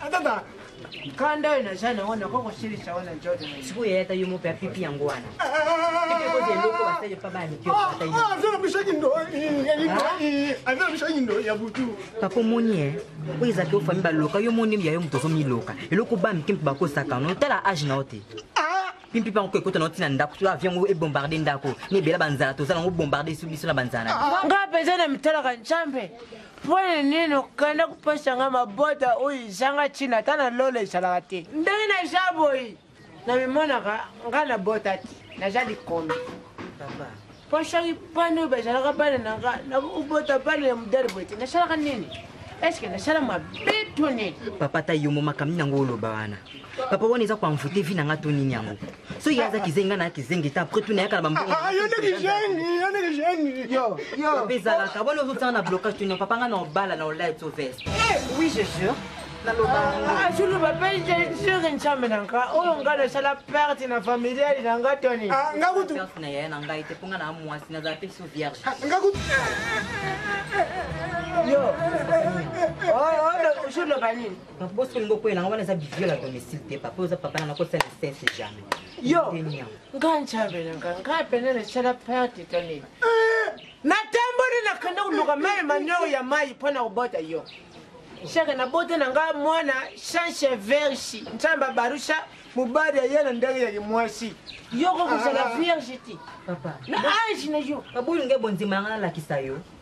Atata. Kanda oyo naza na wana koko silisa wana Jordan. Sikoyo yeye ata yo mope apipi yango wana. Ikoze eloko asali pa bana mikio ata yo. Ah, zela bishaki ndo. Azela bishaki ndo ya butu. Papa omoni eh. Oyo eza ke ofami baloka yo moni ya yo moto ozomiloka. Eloko ba mike mpe bakosaka no tala age na yo te. pimpi mpe yango ekota na ntina ndako to avion yango ebombarde ndako na ebela banzala tozala yango bombarde biso na banzala nga mpenza na mitalaka nzambe Mpo na nini okenda kopesa ngai mabota oyo ezanga ntina ata na lola ezalaka te? Ndenge naza boye namimonaka ngai nabota te, naza likombi papa. Mpo soki bana oyo bazalaka bana na ngai nakobota bana ya modele boye te, nasalaka nini? Eske nasala mabe to nini? Papa ata yo mo makambo nini yango oloba wana? papa wana eza koanvoute vi na nga to nini yango soki aza kizengi nga na kizengi te apres tuna yaka na bambongope ezalaka bona ozotanga na blocage tuna papa nga na obala na olai to veste eh, oui je jure azuluba mpe jejure ncambe na nga oyo nga nasala perte na familiale na nga toni ah, perte na yaya na ngai te mpo nga na mwasi nazala mpe so vierge ah, yo ozoloba oh, oh, nini donc bosoni bokwela yango wana eza biviol ya domicile te papa oza papa nanga kosala sense jamais yo nga nzambe na nga nga pene nasala perte to nini eh! natamboli nakende koluka mai manio ya mai mpo na kobota yo shaka nabota na nga mwana chanche verge nzambe abarusha mobali aye na ndenge ya kimwasi yoko kozala ah. vierge te na age na yo abolinga ebonzima yanga nalakisa yo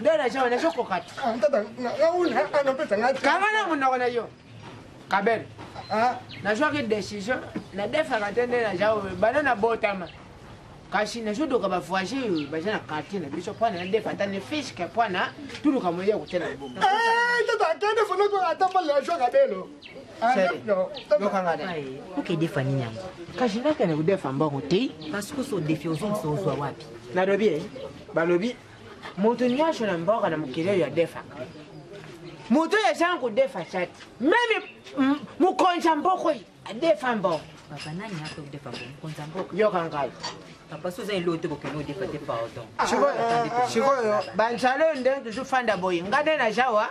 nde na jawa nazokoka te kanga na monoko na yo kabele ah. nazwaki décision nadefaka te nde na jawa bana nabotama kasi nazodoka bavoise oyo baza na quartier na biso mpo na ndefa ata ne fiske mpo na tuluka moye ya kotela libumu okedefa nini yango kasi nakende kodefa mbongo te kasi kosi odefi ozongisa ozwa wapi nalobi balobi moto nyonso na mboka na mokili oyo adefaka moto oyo azanga kodefa tya te meme mokonzi ya mboka oyo adefa mbongo yoka ngai sikoyo banzala oyo nde tozofanda boye ngai nde naza wa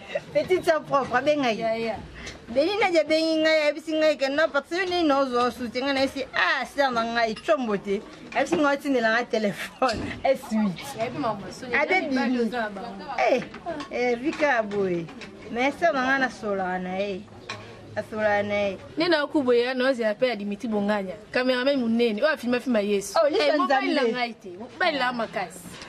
petite sœur propre abenga ye beni nadi abengi ngai ayebisi ngai ke non parce yo nini ozwa osuti ngai nayebisi ah sœur na ngai combo te ayebisi ngai otindela ngai telefone esuite abebimi vika ya boye mais sœur na ngai nasolaka na ye asolaka na ye nde nakubo ya naozela mpe ya dimitri bonganya kamerame monene oyo afimafima yesu mobali na ngai te mobali na makasi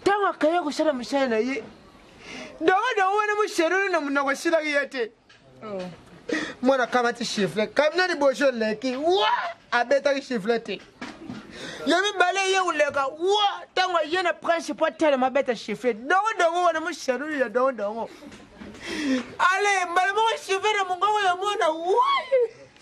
ntango akaya kosala mosala na ye dongodongo wana moserolo na monoko esilaki ye te oh. mwana akamati chifle kamina liboso eleki wa abetaki chifle te ya mibale ye koleka wa ntango aye na prince mpo atelema abeta chifle dongodongo wana moserolo ya dongodongo ale mbala moko chifle na mongongo ya mwana wa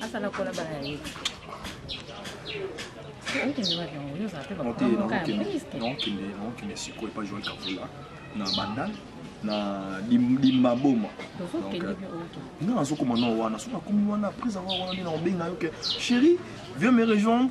asala kola bana ya ye okende sikoyo epa joel kavula na bandal na limaboma nga nazokoma na wana soki nakomi wana après avoir wana nde nakobenga yo ke chéri vieux me rejoindre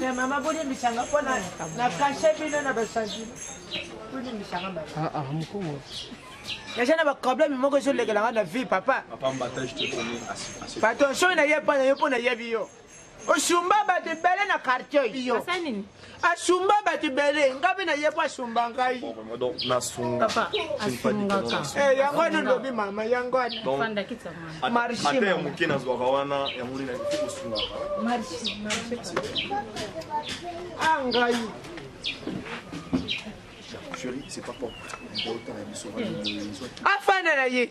te mama bolimbisanga mpo na kashe bino na basantime tolimbisanga mama ah, ah, naza na baproblème moko ezolekela nga na vie papa bato soki naye mpo na yo mpo nayebi yo osumba bato ebele na quartier yo asumba bato ebele nga mpe naye mpo asumba ngai eh, yango wana olobi mama yango wanaata ya moke nazwaka wana yango nini nakoki kosungaka a ah, ngai afanda na ye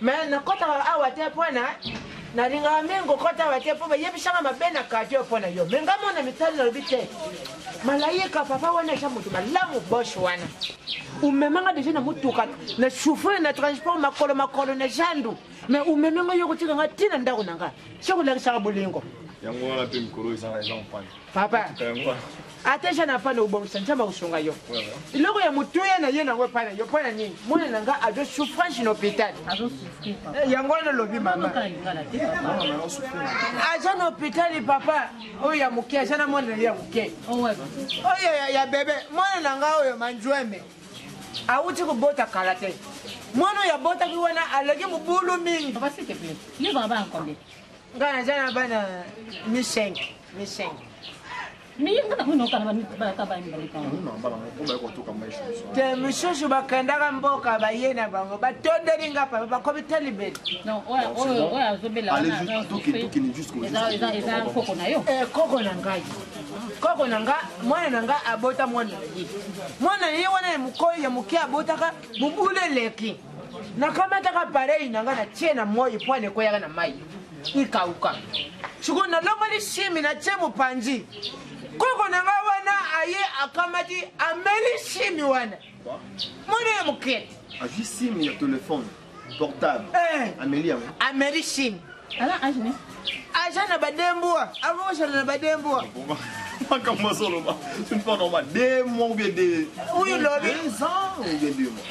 mais nakotaka awa te mpona nalingaka mingi kokota awa te mpo bayebisaka mabe na kadio mpo na yo me nga mona mitali nalobi te malayika papa wana eza moto malamu boshe wana omemanga deja na motuka na souffrir na transport makolo makolo na zandu me omemi nga yo kotika nga ntina ndako na nga sokolakisaka bolingo yango wana mpe mikolo eza eza mpana papa ata jeune afana obongisa nzambe akosunga yo eloko ya motuya na ye nango epai na yo mpo na nini mwana na nga azo souffrance na hôpital eh, yango wana olobi mama aza na hôpital papa oyo ya moke aza na mwana na ye ya moke oh, oyo ya bebe mwana na nga oyo manjueme awuti kobota kala te mwana oyo abotaki wana aleki mobulu mingi ngai naza na bana mi 5 Michelle. te mosusu bakendaka mboka baye na bango batondeli nga papa bakomi talibeli koko na ngai koko na nga mwana na nga abota mwana na ye mwana na ye wana ya mokoi ya moke abotaka mobulu eleki nakamataka pareil na nga na tie na moi mpo anekweyaka na mai ikauka sikoyo nalongoli simi natie mopanzi koko na ngai wana aye akamati ameli simi wana mwana ya mokete azwi simi ya telefone portable eh. ameli yango ameli simi aza na badembua akokosana na badembua makambo azoloba une fois normal deux mois ou bien deux oui lobi deux ans ou bien deux mois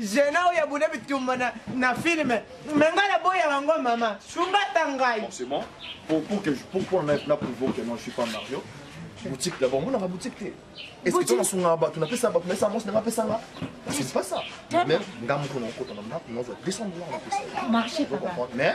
Zena oyo abunda bitumba na, na filme me ngai naboya yango mama sunga ata ngai forcément pour, pour que, pourquoi na, na prouve que non je suis pas mario boutique d'abord mona ba boutique te est ce que tona sunga bato na pesa bato na esa mosi na pesa nga c'est pas ça même nga moko na okota na ndako na 200 dollars na pesa marché papa mais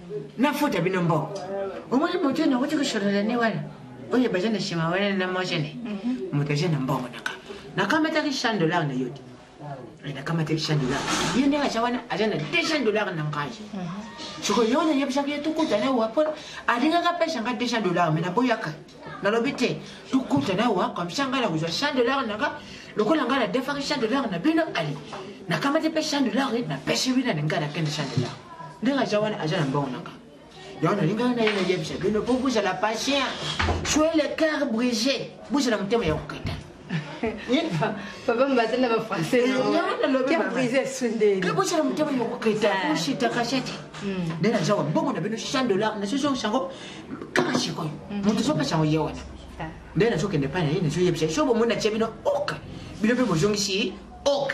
na faute ya bino mboko omoni moto ena okoti kosolola ne wana oyo baza na nsima wana na mojene mhm. moto aza na mbongo na kama nakamataki chan dollar na yo te eh, nakamataki chan dollar ye ndenge aza wana aza na deux chan dollar na ngai mhm. soko yo nayebisaki ye tokutana wapo alingaka pesa nga deux chan dollar me naboyaka nalobi te tokutana awa comme ça ngai nakozwa chan de lare nanga lokola ngai nadefaki chan de lare na bino ali nakamati mpe chan de lare napesi wina na ngai nakende chan de lare ndenge aza wana aza na mbongo nanga yango nalingaki naye nayebisa bino mpo bozala patient soyez le cœur brise bozala motema ya kokata papa mbaza na bafrançaisbocala motema yokoketa oshita kashati nde naza wa bongo na bino chan dollar nasozoki yango kaka sikoyo moto sopesa yango ye wana nde nazokende epai na ye nazoyebisa ye so bomoni na tie bino ok bino mpe bozongisi ok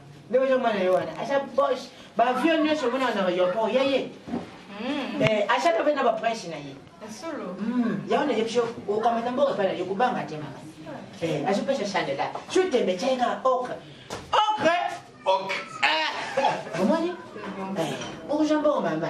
nde ozo mona yo wana aza boche ba vieux nioso omona na aéroport ya ye hmm. eh, aza tope na ba prince na ye hmm. yango na yebiso okamata mboka epai na yo kobanga te mama eh, azopesa chandela so tembe tyai kaka okre okre omoni oza mbongo mama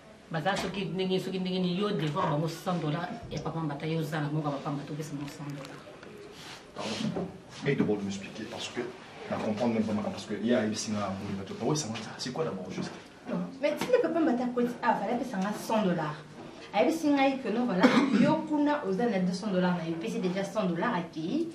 baza soki ndenge soki ndenge ni yo devoir bango 100 dollars ya papa mbata yo oza na moko ya papa mbata opesa bango 100 dollars mais d'abord de m'expliquer parce que na comprendre même pas makambo parce que ye ayebisi nga mbuli bato pao esanga nzala c'est quoi d'abord juste mais tinde papa mbata akweti ah, avala apesa nga 100 dollars ayebisi ngai que non voilà yo kuna oza na 200 dollars na yo epesi déjà 100 dollars akei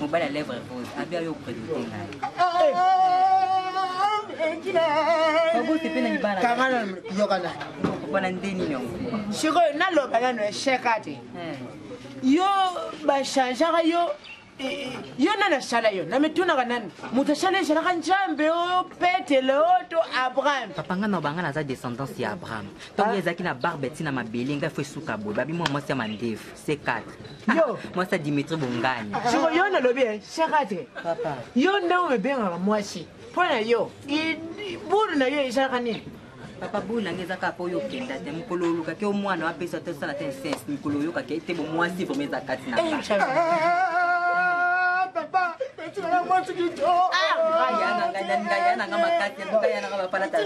mobali ya lèvre rose abi ayo opredote ngai babose mpe na libala kangana yokana okopana nde nini yango sikoyo naloba nano esheka te eh. yo bachangeaka yo yo nani asala yo na mitunaka nani moto asala ezalaka nzambe oyo petele oyo to abraham papa ngai naloba ngai naza descendance ya abraham ntongo ah. ezalaki na barbe ti na mabele ngai fo esuka boye babi mwa mwasi ya mandefu C4. Yo. Mwasi ya Dimitri Bongani. Siko yo nalobi eh, C4. Papa. Yo nde omebengaka mwasi. Mpo na yo, buru na yo ezalaka nini? papa boyi na ngai eza kaka mpo oyo okenda te mokolo olukaki o mwana wapesa te osala te insens mikolo oyokaki ete bomwasi vraimen eza kati na eh, eh, eh, papa etinanga mwasi kitoko ah, ya nanga makasi aluka ya nanga bapalata te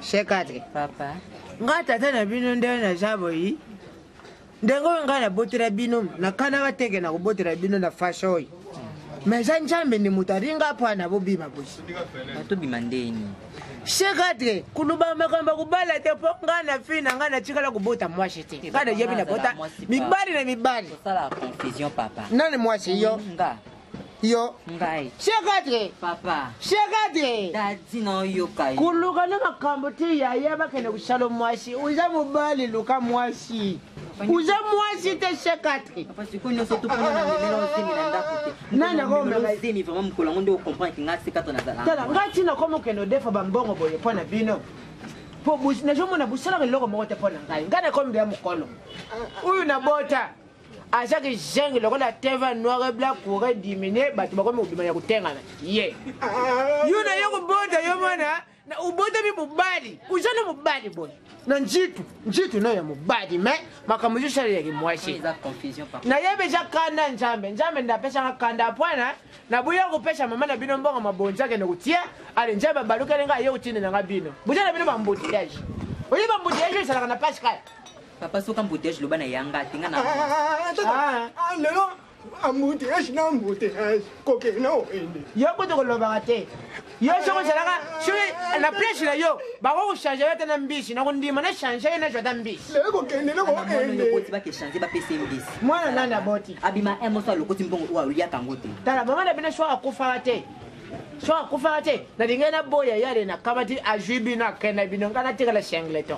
shekate papa nga tata na bino nde naza boyi ndenge oyo ngai nabotela bino nakanaka teke na kobotela bino na fashe oyo ma eza nzambe nde moto alinga mpo ana bobima bosi tobima ndeni shekatre kuluba makambo kobala te mpo ngai na fille na ngai natikala kobota mwasi te ngai nayebi nabota mibali na mibali nani mwasi yo yo ngai shekadre papa shekadre dadi na oyoka yo koluka na makambo te yaya bakende kosala mwasi oza mobali luka mwasi oza mwasi te shekadre sikoyo nyonso topona na memela ozemi na ndako te nani akomezemi vraiment mokolo yango nde okomprendre ngai sekadre nazalaa ngai ntina koma okende odefa bambongo boye mpo na bino mpo nazomona bosalaka eloko moko te mpo na ngai ngai nakomi bya mokolo oyo nabota aza kizengi lokola teva noir et blanc courant diminue bato bakomi kobima ya kotengana ye yo na yo kobota yo mwana obotami mobali oza na mobali boye na njitu njitu nayo ya mobali me makambo ezosalelaki mwasi nayebi eza kanda nzambe nzambe nde apesaka kanda apwana naboya kopesa mama na bino mbongo mabonzi akende kotia ale nzambe abalukeli ngai aye kotinda na ngai bino boza na bino bamboutillage oyebi bamboutillage ezalaka na pascal Papa soki embouteillage loba na ya nga te nga na. Ah, ah, ah, lelo embouteillage na embouteillage kokende na okende. Yo kutu kolobaka te. Yo soki ozalaka soki na place na yo bako kochange yo ata na mbisi na kondima na change ye nazwa ata mbisi. Lelo kokende na kokende. Okoti bakechange bapesa ye mbisi. Mwana nani aboti? Abima un moso alokoti mbongo oyo aliaka yango te. Tala mama na bino soki akufaka te. Soki akufaka te nalingai naboya yale nakamati azwi bino akenda bino ngai natikala singleton.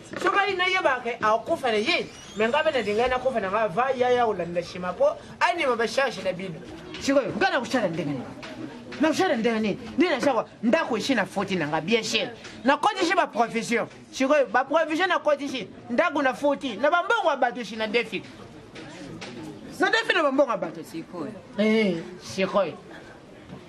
soki ayi nayeba ke akokufa na ye me ngai mpe nalingai nakufa na ngai va yaya olandela shima mpo anima bacharge na bino sikoyo ngai nakosala ndenge nini nakosala ndenge nini nde nazawa ndako esi na foti na ngai bien cher nakotisi baprovision sikoyo baprovision nakotisi ndako na foti na bambongo ya bato esi na defi na defi na bambongo ya bato sikoyo eh, sikoyo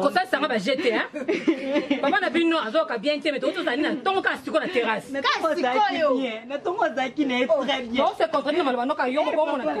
kosalisanga baje te papa na bino azoyoka bien te mete ozozali na ntongo kaka siko na terrasse ose comprendre na maloba noka yo moko omona te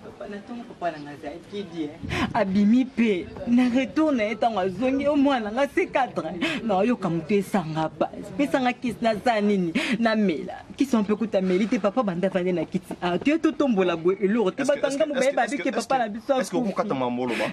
Papa na tongo papa na nga za kidi eh. Abimi pe na retour na ye tango azongi yo mwana nga se cadre na yoka moto esanga base pesa nga kisi na za nini na mela kisi mpe kuta meli te papa banda vande na kiti ah to to tombola boye eloro te batanga mo baye babike papa na biso est-ce que okokata mambo loba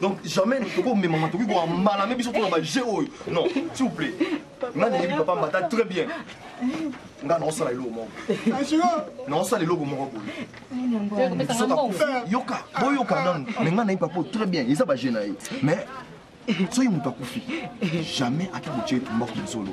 donc jamais tokoki komemama tokoki kowa mbala me biso tona bajeu oyo non s'il vous plaît nga nayebi papa mbata très bien nga naosala eloko moko naosala eloko moko boye yoka boyoka nanu me nga nayebi papa très bien eza bajeu na ye mais soki moto akufi jamais ata kotie etumba konzolo